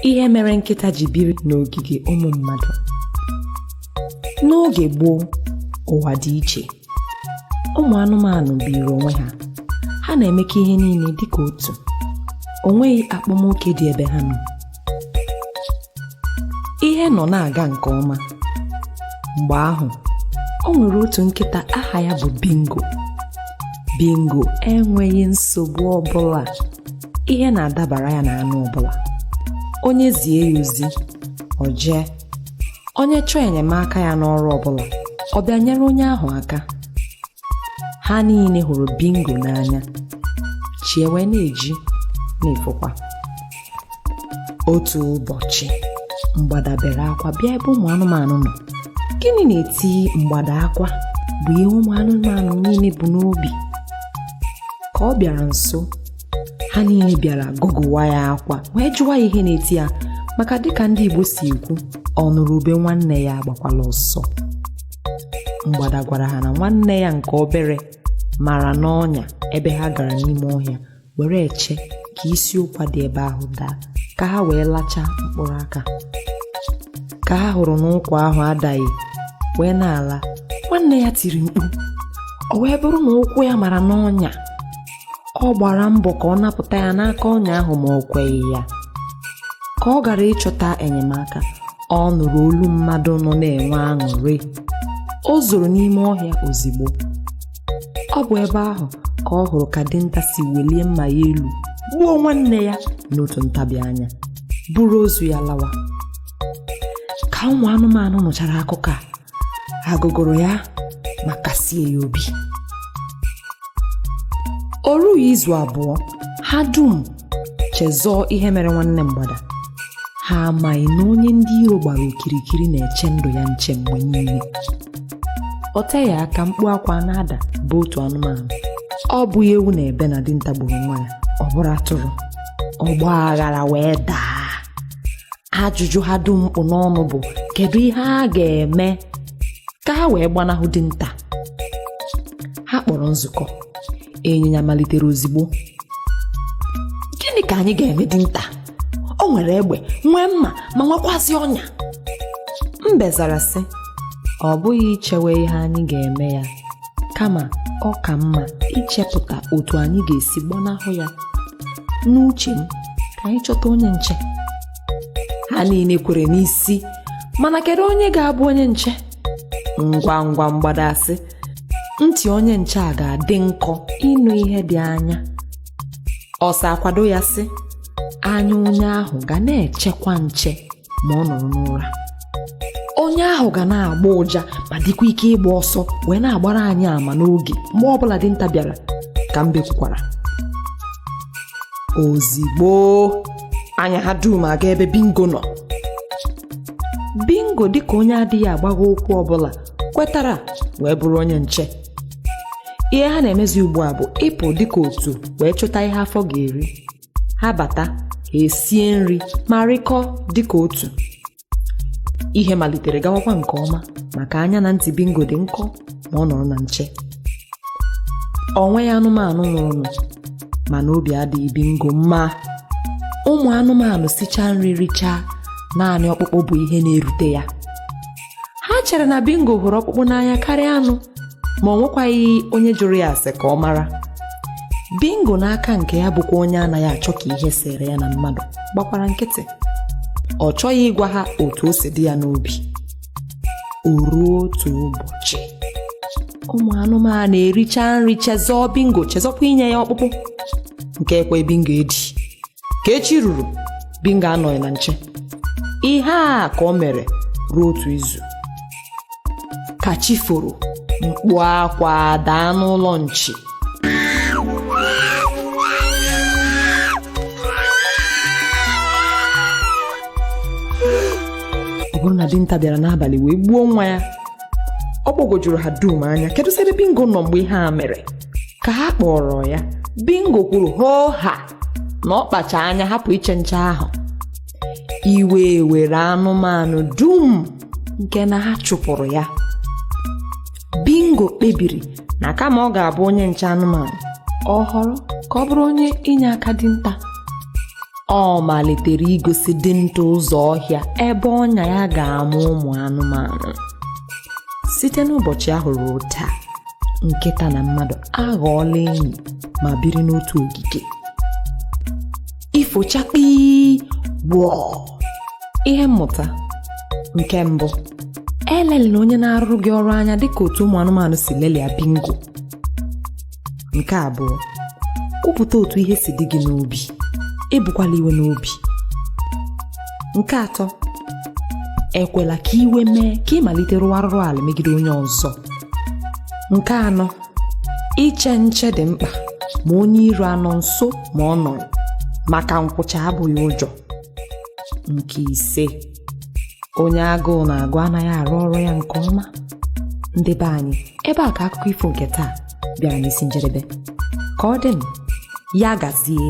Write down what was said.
ihe mere nkịta ji biri n'ogige ụmụ mmadụ n'oge gboo ụwa dị iche ụmụ anụmanụ biiri onwe ha ha na-emekọ ihe niile dịka otu o nweghị akpamoke dị ebe ha nọ ihe nọ na-aga nke ọma mgbe ahụ o nwere otu nkịta aha ya bụ bingo bingo enweghị nsogbu ọbụla ihe na-adabara ya na anụ ọbụla onye zie ya ozi o jee onye chọọ enyemaka ya n'ọrụ ọbụla ọ bịa nyere onye ahụ aka ha niile hụrụ bingo n'anya chi ewee na-eji na-efokwa otu ụbọchị mgbada bere akwa bịa ebe ụmụ anụmanụ nọ gịnị na-eti mgbada akwa bụ ihe ụmụ anụmanụ niile bu n'obi ka ọ bịara nso ha niile bịara gụgụwa ya akwa wee jụwa ya ihe na-eti ya maka dịka ndị Igbo si ekwu ọ nụrụ ube nwanne ya agbakwala ọsọ mgbada gwara ha na nwanne ya nke obere mara n'ọnya ebe ha gara n'ime ọhịa were eche ka isi ụkwa dị ebe ahụ daa ka ha wee lachaa mkpụrụ aka ka ha hụrụ na ụkwa ahụ adaghị wee na-ala nwanne ya tiri mkpu ọ wee bụrụ na ụkwụ ya mara n'ọnya ọ gbara mbọ ka ọ napụta ya n'aka ọnya ahụ ma o kweghị ya ka ọ gara ịchọta enyemaka ọ nụrụ olu mmadụ nọ na-enwe aṅụrị o zoro n'ime ọhịa ozigbo ọ bụ ebe ahụ ka ọ hụrụ ka dinta si welie mma ya elu gbuo nwanne ya n'otu ntabi anya buru ozu ya lawa ka ụmụ anụmanụ nụchara akụkọ a ha gụgụrụ ya ma kasie ya obi o rughị izu abụọ ha dum chezọọ ihe mere nwanne mgbada ha amaghị na onye ndị iro gbara okirikiri na-eche ndụ ya nche mgbe niile o teghị aka mkpu akwa na-ada bụ otu anụmanụ ọ bụghị ewu na-ebe na dinta gburu nwa ya ọ bụrụ atụrụ ọgba aghara wee daa ajụjụ ha dum kpụ n'ọnụ bụ kedu ihe a ga-eme ka ha wee gbanahụ dinta ha kpọrọ nzukọ ịnyịnya malitere ozigbo gịnị ka anyị ga-eme dinta o nwere egbe nwee mma ma nwekwazị ọnya mbe zara sị ọ bụghị ichewe ihe anyị ga-eme ya kama ọ ka mma ichepụta otu anyị ga-esi gbanahụ ya n'uche m ka anyị chọta onye nche ha niile kwere n'isi mana kedu onye ga-abụ onye nche ngwa ngwa mgbada sị ntị onye nche a ga-adị nkọ ịnụ ihe dị anya ọsa akwado ya sị anya onye ahụ ga na-echekwa nche ma ọ nọrọ n'ụra onye ahụ ga na-agba ụja ma dịkwa ike ịgba ọsọ wee na-agbara anyị ama n'oge mgbe ọbụla dinta bịara ka mbe kwukwara ozigbo anya ha dum aga ebe bingo nọ bingo dịka onye adịghị agbagha okwu ọbụla kwetara wee bụrụ onye nche ihe ha na-emezi ugbu a bụ ịpụ dịka otu wee chọta ihe afọ ga-eri ha bata ha esie nri ma rịkọọ dịka otu ihe malitere gawakwa nke ọma maka anya na ntị bingo dị nkọ ma ọ nọrọ na nche o nweghị anụmanụ nwụrụnụ mana obi adịghị bingo mma ụmụ anụmanụ sichaa nri richaa naanị ọkpụkpụ bụ ihe na-erute ya ha chere na bingo hụrụ ọkpụkpụ n'anya karịa anụ ma o nwekwaghị onye jụrụ ya ase ka ọ mara bingo n'aka nke ya bụkwa onye anaghị achọ ka ihe sere ya na mmadụ gbakwara nkịtị ọ chọghị ịgwa ha otu o si dị ya n'obi o ruo otu ụbọchị ụmụ anụmanụ erichaa nri chezọọ bingo chezọkwa inye ya ọkpụkpụ nke a ekweghị bingo edi ka echi ruru Bingo anọghị na nche ihe a ka o mere ruo otu izu ka chi foro mkpu akwa daa n'ụlọ nchi ọ bụrụ na dinta bịara n'abalị wee gbuo nwa ya ọ gbagwojuru ha dum anya keduzi ebe bingo nọ mgbe ihe a mere ka ha kpọrọ ya bingo kwuru hoo ha na ọ kpacha anya hapụ iche nche ahụ iwe were anụmanụ dum nke na ha chụpụrụ ya bingo kpebiri na kama ọ ga-abụ onye nche anụmanụ ọ họrọ ka ọ bụrụ onye inye aka dinta ọ malitere igosi dinta ụzọ ọhịa ebe ọnya ya ga-ama ụmụ anụmanụ site n'ụbọchị ahụ ruo taa nkịta na mmadụ aghọọla enyi ma biri n'otu ogige ifo chakpii wọọ ihe mmụta nke mbụ elelịla onye na-arụrụ gị ọrụ anya dịka otu ụmụ anụmanụ si lelịa bingo nke abụọ kwupụta otu ihe si dị gị n'obi ebukwala iwe n'obi nke atọ ekwela ka iwe mee ka ị malite rụwa arụrụ ala megide onye ọzọ nke anọ iche nche dị mkpa ma onye iro anọ nso ma ọ nọghị maka nkwụcha abụghị ụjọ nke ise onye agụụ na-agụ anaghị arụ ọrụ ya nke ọma ndị be anyị ebe a ka akụkọ ifo nke taa bịara n'isi njedebe ka ọ dịnụ ya gazie